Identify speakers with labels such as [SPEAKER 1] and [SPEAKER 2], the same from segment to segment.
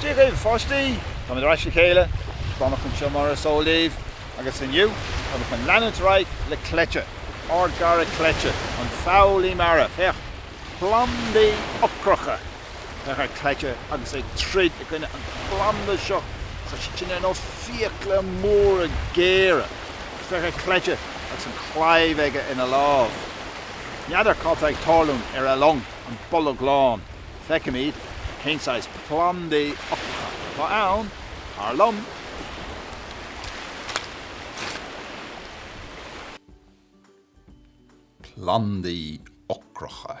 [SPEAKER 1] Dia dhaoibh a pháistí! Táimid ar ais le chéile, Donncha anseo mar is eol daoibh agus inniu táimid chun leanúint ar aghaidh le Cleite, ár gcara Cleite, an foghlaí mara. Féach, plandaí ocracha! Féach ar Cleite agus é ag troid i gcoinne an phlanda seo tá sé ar nós fiacla móra géara, féach ar Cleite agus an claíomh aige ina lámh. N'fheadar cad tá ag tarlúint ar a long, an Bolg Lán. Feicimid cén saghas plandaí ocracha atá ann, tar
[SPEAKER 2] liom. Plandaí ocracha.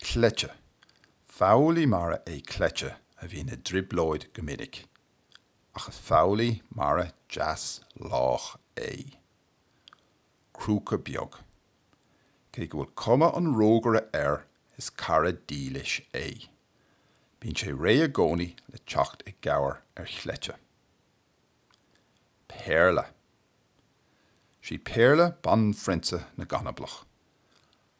[SPEAKER 2] Cleite. Foghlaí mara é Cleite a bhíonn i dtrioblóid go minic. Ach is foghlaí mara deas lách é. Crúca beag. Cé go bhfuil cuma an rógaire air is cara dílis é. Bíonn sé réidh i gcónaí le teacht i gcabhair ar Chleite. Péarla. Sí Péarla banphrionsa na gcanablach.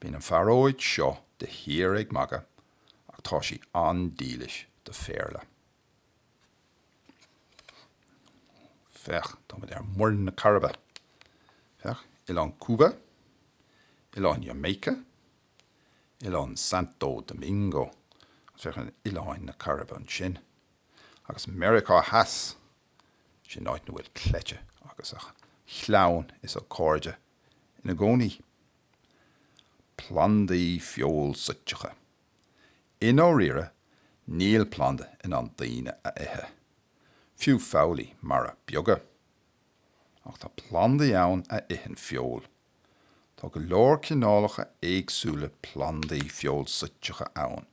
[SPEAKER 2] Bíonn an phearóid seo de shíor ag magadh ach tá sí an-dílis do Phéarla. Féach, táimid ar Mhuir na Cairibe. Féach, Oileán Cúba, Oileán Jamaica, Oileán Santo Domingo, agus féach ar Oileáin na Cairibe ansin. Agus Meiriceá Theas! Sin áit ina bhfuil Cleite agus a chlann is a chairde ina gcónaí. Plandaí feoilsuiteacha. I ndáiríre, níl planda in ann daoine a ithe, fiú foghlaí mara beaga. Ach tá plandaí ann a itheann feoil. Tá go leor cineálacha éagsúla plandaí feoilsuiteacha ann.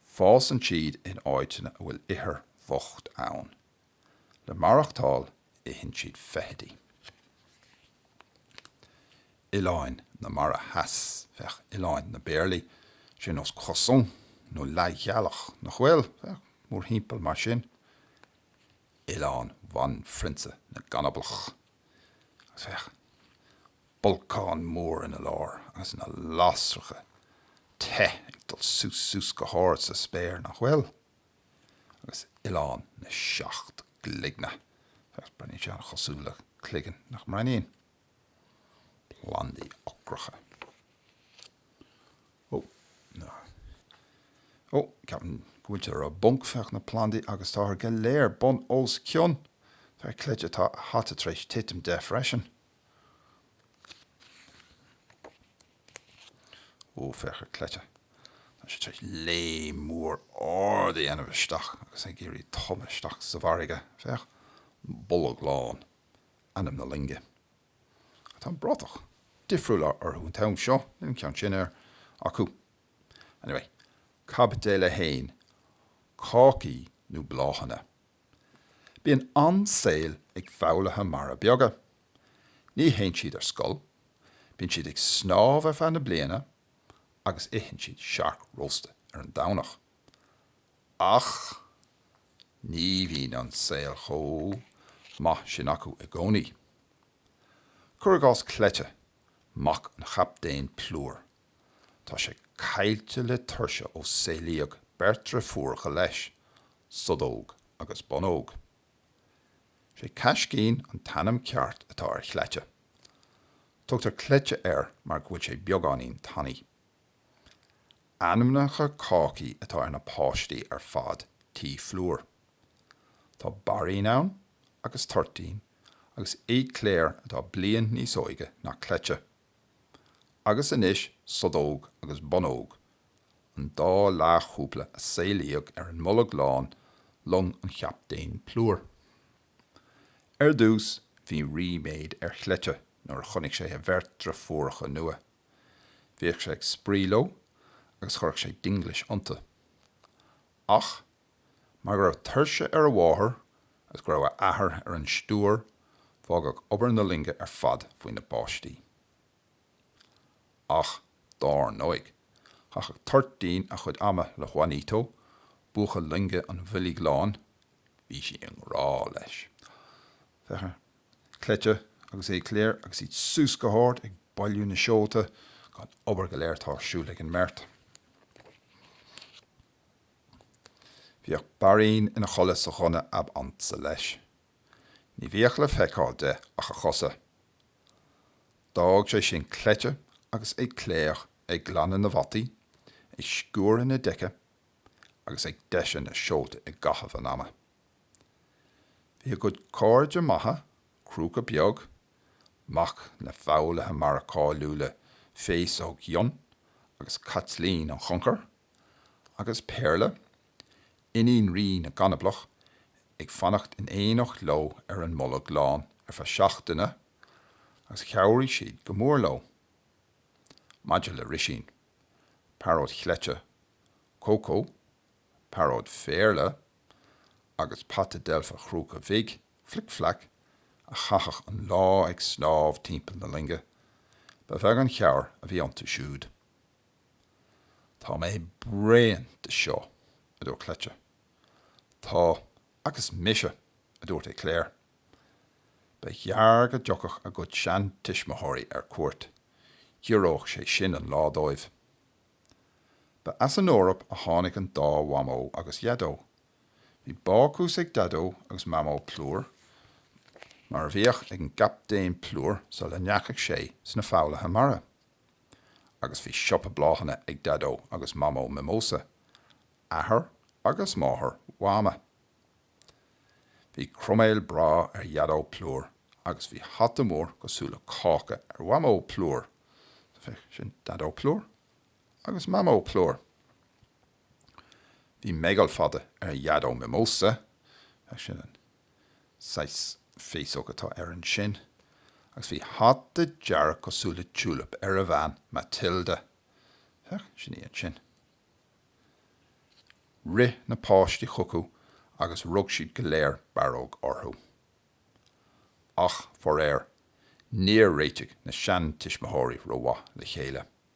[SPEAKER 2] Fásann siad in áiteanna a bhfuil ithir bhocht ann. le maireachtáil itheann siad feithidí. Oileáin na Mara Theas féach Oileáin na bPéarlaí, sé ar nós croissant nó leathghealach nach bhfuil, féach mórthimpeall mar sin, Oileán Bhanphrionsa na gcanablach, agus féach bolcán mór ina lár agus na lasracha te ag dul suas suas go hard sa spéir nach bhfuil. agus Oileán na Seacht gCloigne, agus breathnaíonn sé an-chosúil le cloigeann nach mbreathnaíonn? Plandaí ocracha. Ó, na. Ó, ceapaim go bhfuil siad i bponc, féach na plandaí agus táthar go léir bun os cionn. Tá Cleite, tá a hata tar éis titim de freisin. Ó, féach ar Cleite. Tá sé tar éis léim mór ard a dhéanamh isteach agus ag iarraidh tumadh isteach sa bhfarraige. Féach, Bolg Lán, ainm na loinge. Ach tá an bratach difriúil uirthi an t-am seo, níl an ceann sin acu. Anyway, caibidil a haon, cácaí nó bláthanna. Bíonn an-saol ag foghlaithe mara beaga. Ní théann siad ar scoil, bíonn siad ag snámh ar feadh na bliana agus itheann siad siorc rósta ar an Domhnach. Ach ní bhíonn an saol chomh maith sin acu i gcónaí. Cur i gcás Cleite, mac an Chaptaein Plúir. Tá sé caillte le tuirse ó saolaíodh beirt driofúracha leis, Sodóg agus Bunóg. Sé Caiscín an t-ainm ceart atá ar Chleite. Tugtar Cleite air mar go bhfuil sé beagáinín tanaí. Ainmneacha cácaí atá ar na páistí ar fad tí Phlúir. Tá Bairín ann, agus Toirtín, agus Éclair atá bliain níos óige ná Cleite. Agus anois Sodóg agus Bunóg, an dá leathchúpla a saolaíodh ar an mBolg Lán, long an Chaptaein Plúir. Ar dtús bhí ríméad ar Chleite nuair a chonaic sé a bheirt driofúracha nua. Bhíodh sé ag spraoi leo agus chuireadh sé dinglis iontu. Ach Mar go raibh tuirse ar a mháthair agus go raibh a athair ar an stiúir, fágadh obair na loinge ar fad faoina bpáistí. Ach, dár ndóigh, chaitheadh Toirtín a chuid ama le Juanito, buachaill loinge an Bhoilg Láin, bhí sí i ngrá leis, féach ar Cleite agus Éclair agus iad suas go hard ag bailiú na seolta, an obair go léir atá ar siúl ag an mbeirt. Bhíodh Bairín ina chodladh sa ghunna ab ansa leis. Ní bhíodh le feiceáil de ach a chosa. D'fhág sé sin Cleite agus Éclair ag glanadh na bhfataí, ag sciúradh na deice agus ag deisiú na seolta i gcaitheamh an ama. Bhí a gcuid cairde maithe, Crúca Beag, mac na bhfoghlaithe mara cáiliúla Féasóg Fhionn agus Caitlín an Choncair, Agus Péarla, iníon Rí na gCanablach, ag fanacht in éineacht leo ar an mBolg Lán ar feadh seachtaine agus chabhraigh siad go mór leo maidir le Rísín, pearóid Chleite, Cócó, pearóid Phéarla agus pata deilfe Chrúca Bhig, Flic Flac, a chaitheadh an lá ag snámh timpeall na loinge. Ba bheag an chabhair a bhí iontu siúd. Tá mé bréan de seo, a dúirt Cleite. Tá agus mise, a dúirt Éclair. Ba ghearr go dtiocfadh a gcuid seantuismitheoirí ar cuairt, ghiorródh sé sin an lá dóibh. Ba as an Eoraip a tháinig an dá Mhamó agus Dhaideo. Bhí bácús ag Daideo agus Mamó Plúr, mar a bhíodh ag an gCaptaen Plúr sula ndeachaigh sé sna foghlaithe mara. agus bhí siopa bláthanna ag Daideo agus Mamó Mimosa, athair agus máthair Mhama. Bhí croiméal breá ar Dhaideo Plúr agus bhí hata mór cosúil le cáca ar Mhamó Plúr. Sin Daideo Plúr agus Mamó Plúr. Bhí meigeall fada ar Dhaideo Mimosa. Sin an Saghas féasóg atá air ansin, agus bhí hata dearg cosúil le tiúilip ar a bhean, Matilda. Féach, sin í ansin. Rith na páistí chucu agus rug siad go léir barróg orthu. Ach, faraor, níor réitigh na seantuismitheoirí rómhaith le chéile.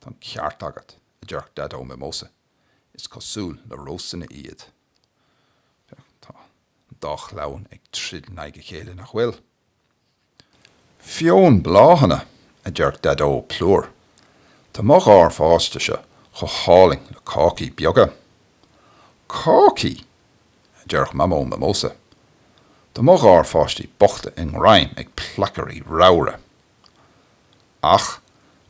[SPEAKER 2] Tá an ceart agat, a deireadh Daideo Mimosa, is cosúil le rósanna iad. Tá an dá chlann ag troid in aghaidh a chéile, nach bhfuil? Feonn bláthanna, a deireadh Daideo Plúr, tá mo gharpháistíse chomh hálainn le cácaí beaga. Cácaí! a deireadh Mamó Mimosa, tá mo gharpháistí bochta i ngreim ag placairí ramhra. Ach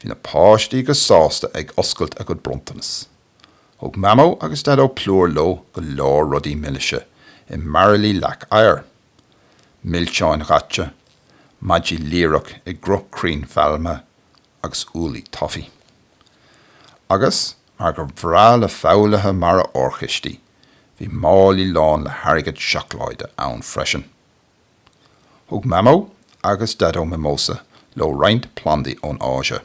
[SPEAKER 2] bhí na páistí go sásta ag oscailt a gcuid bronntanas. Thug Mamó agus Daideo Plúr leo go leor rudaí milise i mbairillí leac oighir. Milseáin dhaite, maidí líreac i gcruth crainn phailme agus úllaí taifí. Agus, mar gur bhreá le foghlaithe mara órchistí, bhí málaí lán le hairgead seacláide ann freisin. Thug Mamó agus Daideo Mimosa leo roinnt plandaí ón Áise,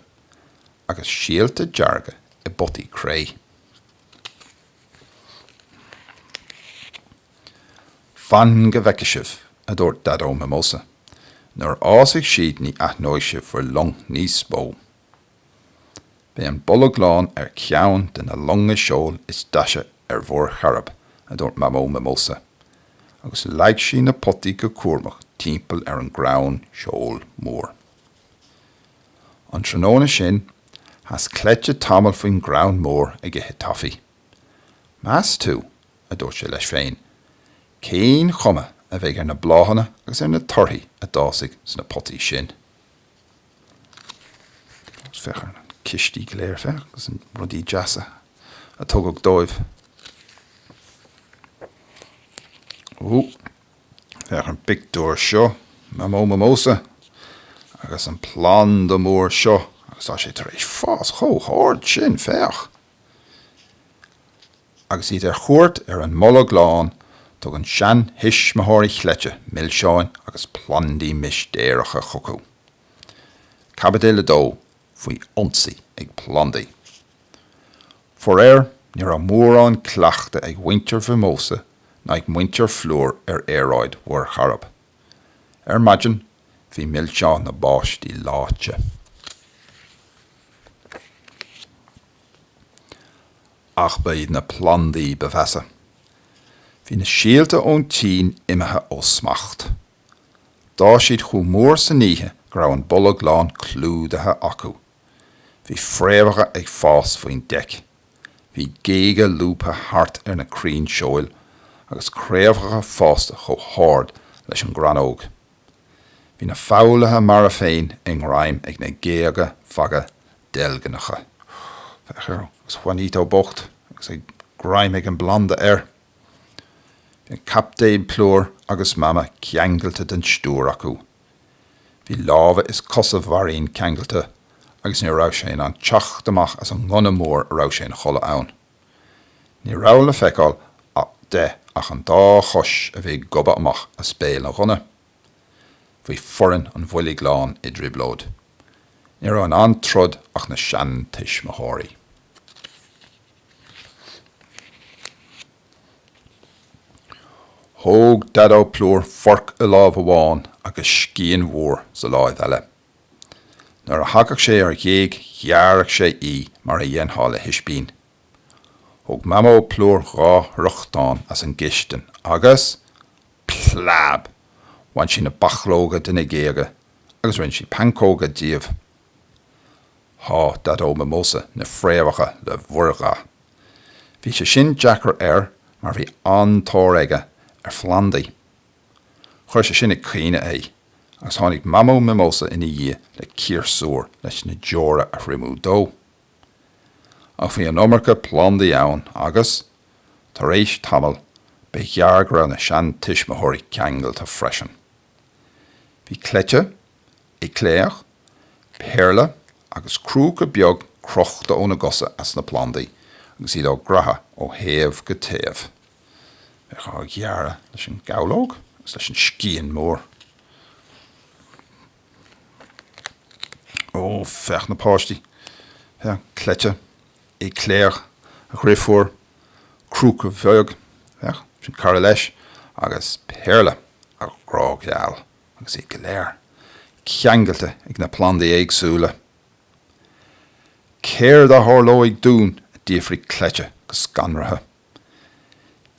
[SPEAKER 2] agus síolta dearga i bpotaí cré. Fan go bhfeice sibh, a dúirt Daideo Mimosa. Nuair a fhásfaidh siad ní aithneoidh sibh bhur long níos mó! Beidh an Bolg Lán ar cheann de na longa seoil is deise ar Mhuir Chairib, a dúirt Mamó Mimosa, agus leag sí na potaí go cúramach timpeall ar an gcrann seoil mór. An tráthnóna sin, sheas Cleite tamall faoin gcrann mór ag ithe taifí. Meas tú, a dúirt sé leis féin, cén chuma a bheidh ar na bláthanna agus ar na torthaí a d'fhásfaidh sna potaí sin? Féach ar na cistí go léir, féach, agus na rudaí deasa a tugadh dóibh. Ú, féach ar an bpictiúr seo, Mamó Mimosa agus an planda mór seo, agus tá sé tar éis fás chomh hard sin, féach. Agus iad ar chuairt ar an mBolg Lán, tugann seantuismitheoirí Chleite milseáin agus plandaí mistéireacha chucu. Caibidil 2, faoi ionsaí ag plandaí. Faraor, ní raibh mórán cleachtaidh ag mhuintir Mhimósa ná ag muintir Phlúir ar aeráid Mhuir Chairib. Ar maidin, bhí milseáin na bpáistí leáite. Ach ba iad na plandaí ba mheasa. Bhí na síolta ón tSín imithe ó smacht. D'fhás siad chomh mór san oíche go raibh an Bolg Lán clúdaithe acu. Bhí fréamhacha ag fás faoin deic. Bhí géaga lúbtha thart ar na crainn seoil agus craobhacha fásta chomh hard leis an gcrannóg. Bhí na foghlaithe mara féin i ngreim ag na géaga fada deilgneacha. Féach air, agus Juanito bocht agus é greim ag an bplanda air. Bhí an Captaen Plúr agus Mama ceangailte den stiúir acu. Bhí lámha is cosa Mharín ceangailte agus ní raibh sé in ann teacht amach as an ngunna mór a raibh sé ina chodladh ann. Ní raibh le feiceáil de ach an dá chois a bhí ag gobadh amach as béal an ghunna. Bhí foireann an Bhoilg Láin i dtrioblóid. Ní raibh in ann troid ach na seantuismitheoirí. Thóg Daideo Plúr forc i láimh amháin agus scian mhór sa láimh eile. Nuair a thagadh sé ar ghéag ghearradh sé í mar a dhéanfá le hispín. Thóg Mamó Plúr dhá fhriochtán as an gcistin agus, Plab! Bhain sí na bachlóga de na géaga agus rinne sí pancóga díobh. Shá Daideo Mimosa na fréamhacha le mhuirgha. Bhí sé sin deacair air mar bhí an-tóir aige ar phlandaí. Chuir sé sin ag caoineadh é agus tháinig Mamó Mimosa ina dhiaidh le ciarsúr leis na deora a thriomú dó. Ach bhí an iomarca plandaí ann agus, tar éis tamaill, ba ghearr go raibh na seantuismitheoirí ceangailte freisin. Bhí cleite, éclair, péarla agus crúca beag crochta óna gcosa as na plandaí agus iad á gcraitheadh ó thaobh go taobh. Bheadh á ghearradh leis an gabhlóg agus leis an scian mór. Ó, féach na páistí. Féach, cleite, éclair, a dheirfiúr, crúca beag, sin cara leis, agus péarla, a ghrá gheal, agus iad go léir ceangailte ag na plandaí éagsúla. Céard a tharlóidh dúinn? a d'fhiafraigh cleite go scanraithe.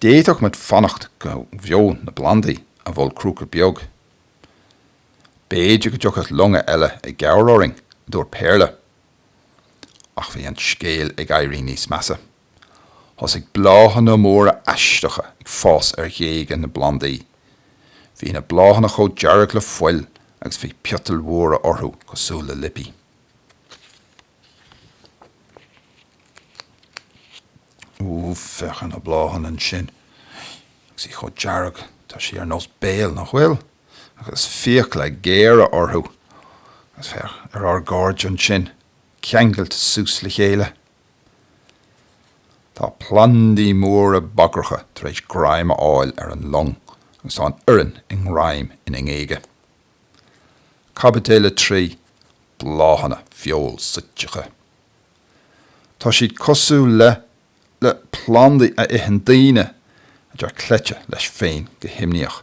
[SPEAKER 2] D'fhéadfadh muid fanacht go bhfeonn na plandaí, a mhol crúca beag. B'fhéidir go dtiocfadh longa eile i gcabhair orainn, a dúirt Péarla. Ach bhí an scéal ag éirí níos measa. Thosaigh bláthanna móra aisteacha ag fás ar ghéaga na bplandaí. Bhí na bláthanna chomh dearg le fuil agus bhí piotail mhóra orthu cosúil le liopaí. Úúú, féach ar na bláthanna ansin. Agus í chomh dearg, tá sí ar nós béil, nach bhfuil? agus fiacla géara orthu, agus féach ar ár gcairde ansin, ceangailte suas le chéile. Tá plandaí móra bagracha tar éis greim a fháil ar an long, agus tá an fhoireann i ngreim ina ngéaga. Caibidil 3, bláthanna feoilsúiteacha. Tá siad cosúil le. le plandaí a itheann daoine, a deir cleite leis féin go himníoch.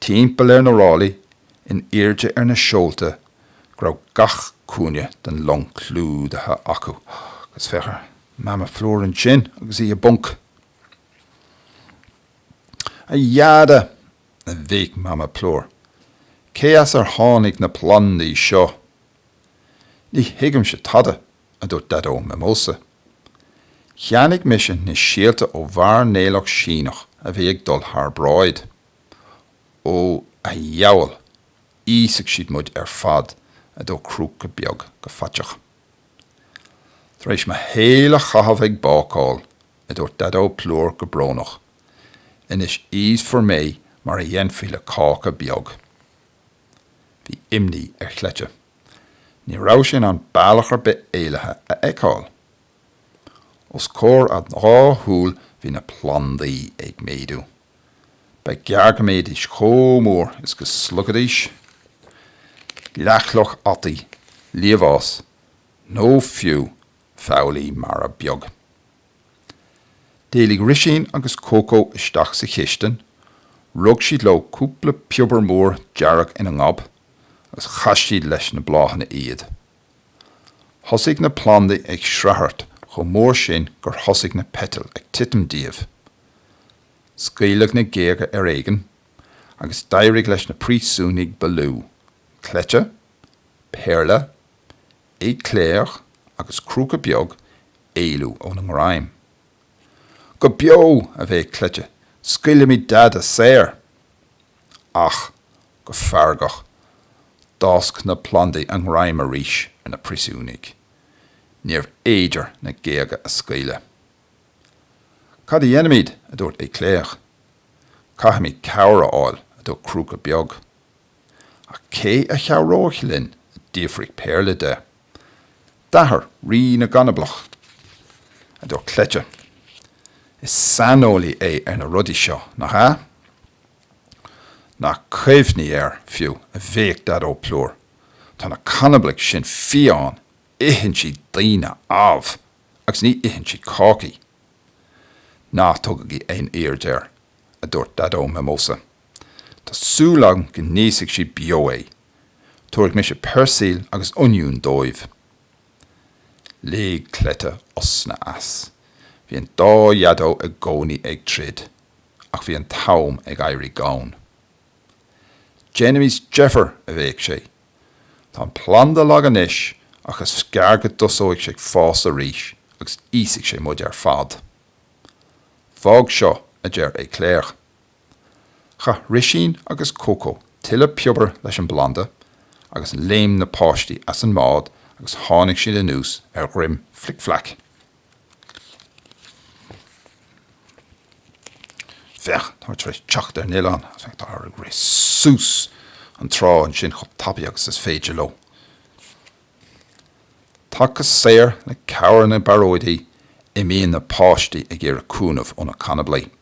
[SPEAKER 2] Timpeall ar na ráillí in airde ar na seolta go raibh gach cúinne den long clúdaithe acu. Agus féach ar Mama Plúr ansin agus í i bponc. A Dheaide! a bhéic Mama Plúr. Cé as ar tháinig na plandaí seo? Ní thuigimse tada, a dúirt Daideo Mimosa. Cheannaigh mise na síolta ó mhairnéalach Síneach a bhí ag dul thar bráid. Ó, a dheabhail, íosfaidh siad muid ar fad, a dúirt Crúca Beag go faiteach. Tar éis mo shaoil a chaitheamh ag bácáil, a dúirt Daideo Plúr go brónach, anois íosfar mé mar a dhéanfaí le cáca beag. Bhí imní ar Chleite. Ní raibh sé in ann bealach ar bith éalaithe a fheiceáil. Os comhair a dhá shúil bhí na plandaí ag méadú. Ba ghearr go mbéidís chomh mór is go sloigfidís leathchloch fhataí, liamhás nó fiú feighlí mara beag. D'éalaigh Risín agus Cócó isteach sa chistin, rug siad leo cúpla piobar mór dearg ina ngob agus chaith siad leis na bláthanna iad. Thosaigh na plandaí ag sraothairt chomh mór sin gur thosaigh na peitil ag titim díobh. Scaoileadh na géaga ar éigin agus d'éirigh leis na príosúnaigh ba lú, Cleite, Péarla, éclair agus crúca beag éalú óna ngreim. Go beo, a bhéic Cleite, scaoilimid Deaide saor! Ach, go feargach, d'fhásc na plandaí a ngreim arís ar na príosúnaigh. Níorbh fhéidir na géaga a scaoileadh. Caidé a dhéanfaimid? a dúirt éclair. Caithfimid cabhair a fháil, a dúirt crúca beag. Ach cé a chabhróidh linn? a d'fhiafraigh Péarla de. D'athair Rí na gCanablach, a dúirt Cleite. Is saineolaí é ar na rudaí seo, nach ea? Ná cuimhnigh air, fiú, a bhéic Daideo Plúr. Tá na canablaigh sin fiáin, itheann siad daoine, amh, agus ní itheann siad cácaí. Ná tugaigí aon aird air, a dúirt Daideo Mimosa. Tá súil agam go n-íosfaidh siad beo é. Tabharfaidh mise peirsil agus oinniúin dóibh. Lig Cleite osna as. Bhí an dá Dhaideo i gcónaí ag troid, ach bhí an t-am ag éirí gann. Déanaimis deifir! a bhéic sé. Tá an planda lag anois, ach is gearr go dtosóidh sé ag fás arís agus íosfaidh sé muid ar fad. Fág seo, a deir Éclair. Chaith Risín agus Cócó tuilleadh piobair leis an bplanda agus léim na páistí as an mbád agus tháinig siad anuas ar dhroim Flic Fleac. Féach, táthar tar éis teacht ar an oileán, agus féach, táthar ag rith suas an trá ansin chomh tapaidh agus is féidir leo. Tagtha saor le cabhair na bpearóidí, imíonn na páistí ag iarraidh cúnamh ó na canablaigh.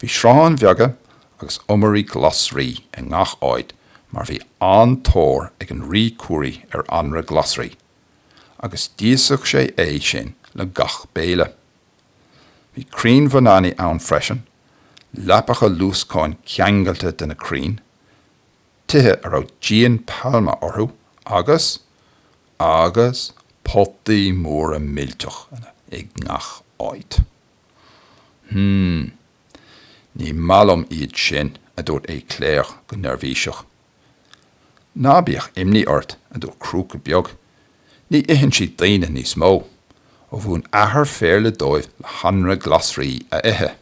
[SPEAKER 2] Bhí srutháin bheaga agus iomairí glasraí i ngach áit mar bhí an-tóir ag an Rí Curaí ar anraith glasraí agus d'íosfadh sé é sin le gach béile. Bhí crainn bhananaí ann freisin, leapacha luascáin ceangailte de na crainn, tithe a raibh díon pailme orthu agus, agus potaí móra millteach i ngach áit. Hmm. Ní maith liom iad sin, a dúirt Éclair go neirbhíseach. Ná bíodh imní ort, a dúirt Crúca Beag. Ní itheann siad daoine níos mó, ó mhúin athair Phéarla dóibh le hanraith glasraí a ithe.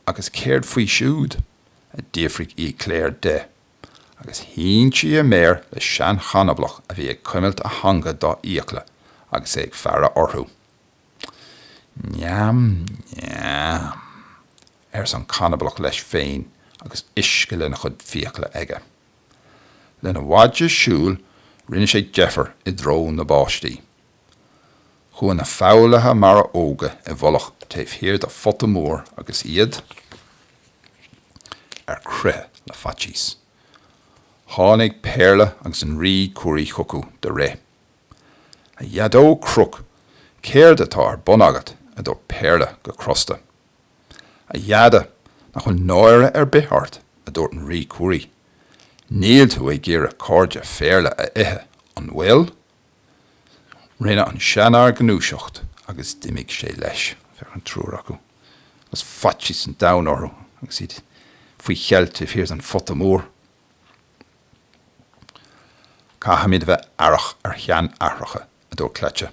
[SPEAKER 2] Agus céard faoi siúd? a d'fhiafraigh Éclair de, agus shín sí a méar le seanchanablach a bhí ag cuimilt a theanga dá fhiacla agus é ag faire orthu. Neam, neam, arsa an canablach leis féin agus uisce lena chuid fiacla aige. Lena mhaide siúil rinne sé deifir i dtreo na bpáistí. Chuaigh na foghlaithe mara óga i bhfolach taobh thiar de phota mór agus iad ar crith le faitíos. Tháinig Péarla agus an rí Curaí chucu de rith. A Dhaideo Crook, céard atá ar bun agat? a dúirt Péarla go crosta. A Dheaide, nach bhfuil náire ar bith ort? a dúirt an rí Curaí. Níl tú ag iarraidh cairde Phéarla a ithe, an bhfuil? Rinne an seanfhear gnúiseacht agus d'imigh sé leis ag faire ar an triúr acu agus faitíos an domhain orthu agus iad faoi cheilt taobh thiar den phota mór. Caithfimid a bheith aireach ar sheanaithreacha, a dúirt Cleite.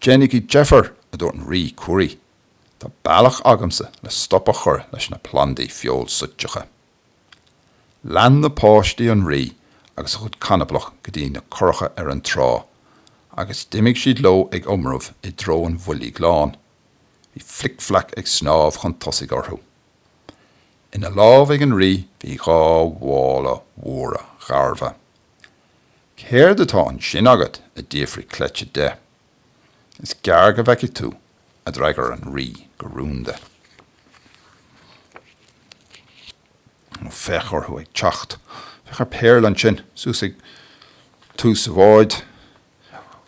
[SPEAKER 2] Déanaigí deifir, a dúirt an rí Curaí, tá bealach agamsa le stop a chur leis na plandaí feoilsúiteacha. Lean na páistí an rí agus a chuid canablach go dtí na curacha ar an trá, agus d'imigh siad leo ag iomramh i dtreo an Bhoilg Láin. Bhí Flic Fleac ag snámh chun tosaigh orthu. Ina lámh ag an rí bhí dhá mhála mhóra gharbha. Céard atá ansin agat? a d'fhiafraigh Cleite de. Is gearr go bhfeicfidh tú, a d'fhreagair an rí go rúnda. Ó, féach orthu ag teacht! Féach ar Péarla ansin, suas ag tús an bháid.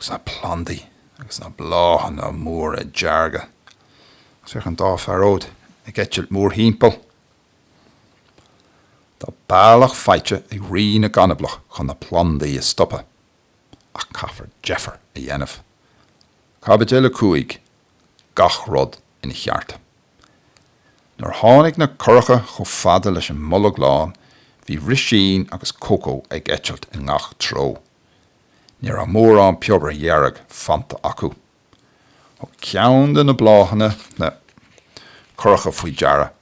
[SPEAKER 2] agus na plandaí agus na bláthanna móra dearga, agus féach an dá phearóid ag eitilt mórthimpeall. Tá bealach faighte ag Rí na gCanablach chun na plandaí a stopadh, ach caithfear deifir a dhéanamh. Caibidil 5, Gach rud ina cheart. Nuair a tháinig na curacha chomh fada leis an mBolg Lán, bhí Rísín agus Cócó ag eitilt i ngach treo. Ní raibh mórán piobair dhearg fanta acu. Thug ceann de na bláthanna na curacha faoi deara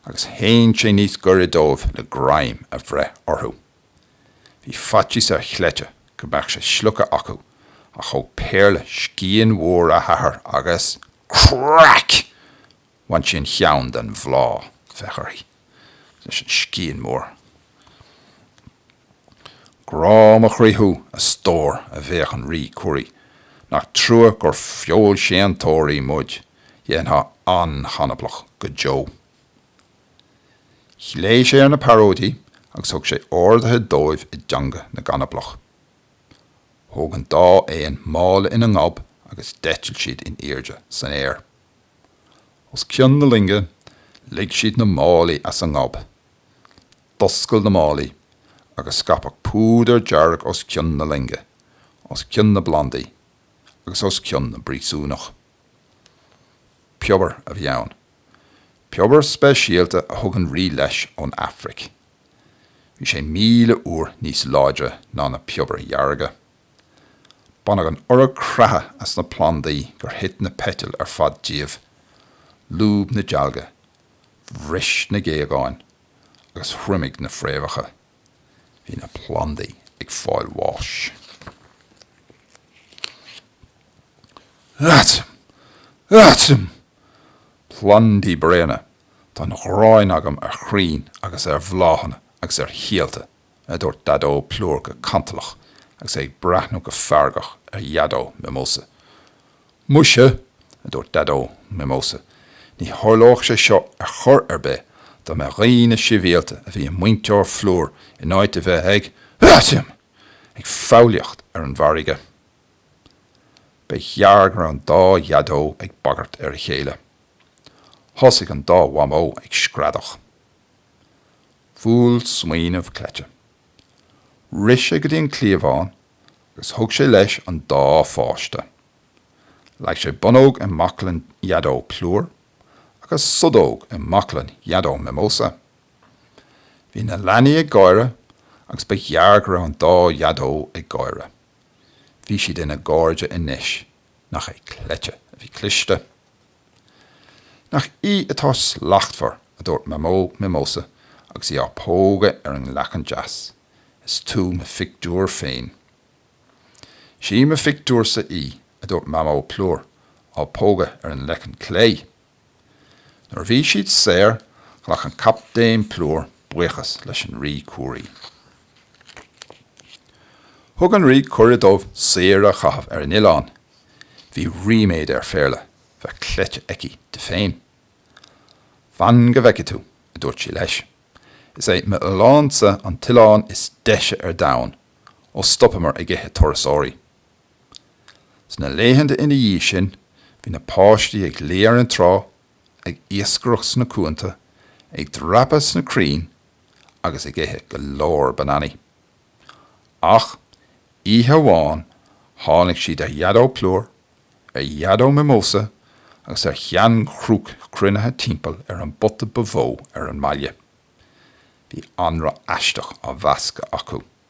[SPEAKER 2] agus shín sé níos gaire dóibh le greim a bhreith orthu. Bhí faitíos ar Chleite go mbeadh sé slogtha acu ach thóg Péarla scian mhór a hathar agus craic! Bhain sí an cheann den bhláth, féach uirthi, leis an scian mór. Grá mo chroí thú, a stór, a bhéic an Rí Curaí, nach trua gur feoilséantóirí muid, dhéanfá an-chanablach go deo. Ghlaoigh sé ar na pearóidí agus thug sé orduithe dóibh i dteanga na gcanablach. Thóg an dá éan mála ina ngob agus d'eitil siad in airde san aer. Os cionn na loinge, lig siad na málaí as a ngob. D'oscail na málaí, agus scaipeadh púdar dearg os cionn na loinge, os cionn na bplandaí, agus os cionn na bpríosúnach. Piobar a bhí ann. Piobar speisialta a thug an rí leis ón Afraic. Bhí sé míle uair níos láidre ná na piobair dhearga. Baineadh an oiread creathadh as na plandaí gur thit na peitil ar fad díobh, lúb na dealga, bhris na géagáin agus thriomaigh na fréamhacha. Bhí na plandaí ag fáil bháis. Aitim! Aitim! Plandaí bréana! Tá an ghráin agam ar chrainn agus ar bhláthanna agus ar shíolta. a dúirt Daideo Plúr go cantalach agus é ag breathnú go feargach ar Dhaideo Mimosa. Muise! a dúirt Daideo Mimosa, ní tharlódh sé seo ar chor ar bith dá mba dhaoine sibhialta a bhí i muintir Phlúir in áit a bheith ag, aitim! ag foghlaíocht ar an bhfarraige. Ba ghearr go raibh an dá Dhaideo ag bagairt ar a chéile. Thosaigh an dá Mhamó ag screadach. Bhuail smaoineamh Cleite. Rith sé go dtí an cliabhán agus thug sé leis an dá pháiste. Leag sé Bonnóg i mbaclainn Dhaideo Plúr agus Sudóg i mbaclainn Dhaideo Mimosa. Bhí na leanaí ag gáire agus ba ghearr go raibh an dá Dhaideo ag gáire. Bhí siad ina gcairde anois, nach é Cleite a bhí cliste! Nach í atá slachtmhar, a dúirt Mamó Mimosa agus í á pógadh ar an leiceann deas. Is tú mo phictiúr féin. Sí mo phictiúrsa í, a dúirt Mamó Plúr, á pógadh ar an leiceann clé. Nuair a bhí siad saor, ghlac an Captaen Plúr buíochas leis an Rí Curaí. Thug an rí cuireadh dóibh saoire a chaitheamh ar an oileán. Bhí ríméad ar Phéarla bheith Cleite aici di féin. Fan go bhfeicfidh tú, a dúirt sí leis. Is é m'oileánsa an t-oileán is deise ar domhan ó stopamar ag ithe turasóirí. Sna laethanta ina dhiaidh sin, bhí na páistí ag luí ar an trá ag iascaireacht sna cuanta, ag dreapadh sna crainn agus ag ithe go leor bananaí. Ach oíche amháin tháinig siad ar Dhaideo Plúr, ar Dhaideo Mimosa agus ar Shean-Chrúca cruinnithe timpeall ar an bpota ba mhó ar an mbaile. Bhí anraith aisteach á mheascadh acu.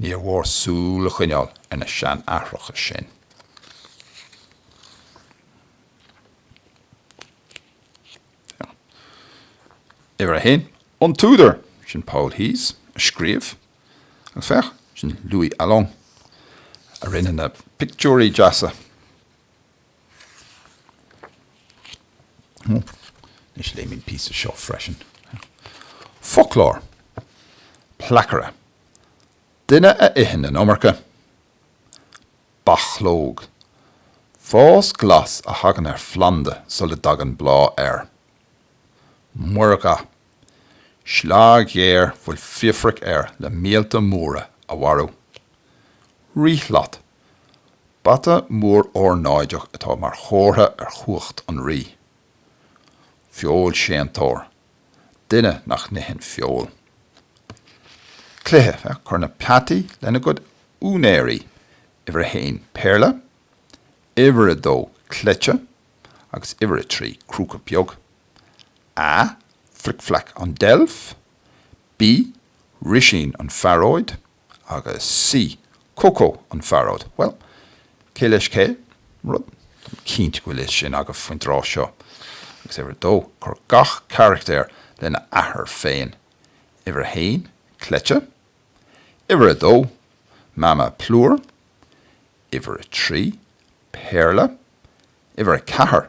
[SPEAKER 2] Níor mhór súil a choinneáil ar na seanaithreacha sin. Uimhir a haon, an t-údar, sin Paul Thiès a scríobh, agus féach, sin Louis Alloing a rinne na pictiúirí deasa. Anois léimid an píosa seo freisin. Foclóir. Placaire. Duine a itheann an iomarca. Bachlóg. Fás glas a thagann ar phlanda sula dtagann bláth air. Muirgha. Sleá ghéar bhfuil friofac air le míolta móra a mharú. Ríshlat. Bata mór ornáideach atá mar chomhartha ar chumhacht an rí. Feoilséantóir, duine nach n-itheann feoil. Cluiche, Cuir na peataí lena gcuid úinéirí, uimhir 1, Péarla, uimhir 2, Cleite, agus uimhir 3, Crúca Beag. A, Flic Fleaic an deilf. B, Risín an phearóid. Agus C, Coco an Phearóid. Bhuel, cé leis cé? Rud, tá mé cinnte go bhfuil a fhios sin agaibh faoin tráth seo. Agus uimhir a dó, cuir gach carachtaer lena athair féin. Uimhir a haon, cleite. Uimhir a dó, Mama Plúr. Uimhir a trí, Péarla. Uimhir a ceathair,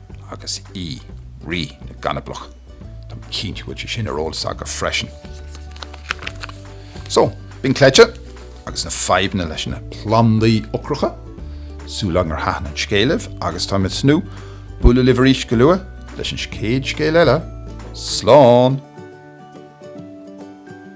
[SPEAKER 2] agus E, Rí na gcanablach. Tá mé cinnte go bhfuil sé sin ar eolas agaibh freisin. So, b'in cleite, agus na fadhbanna leis na plandaí ocracha. Súil agam gur thaitin an scéal libh, agus tá mé ag tnúth bualadh libh arís go luath leis an chéad scéal eile. Slán!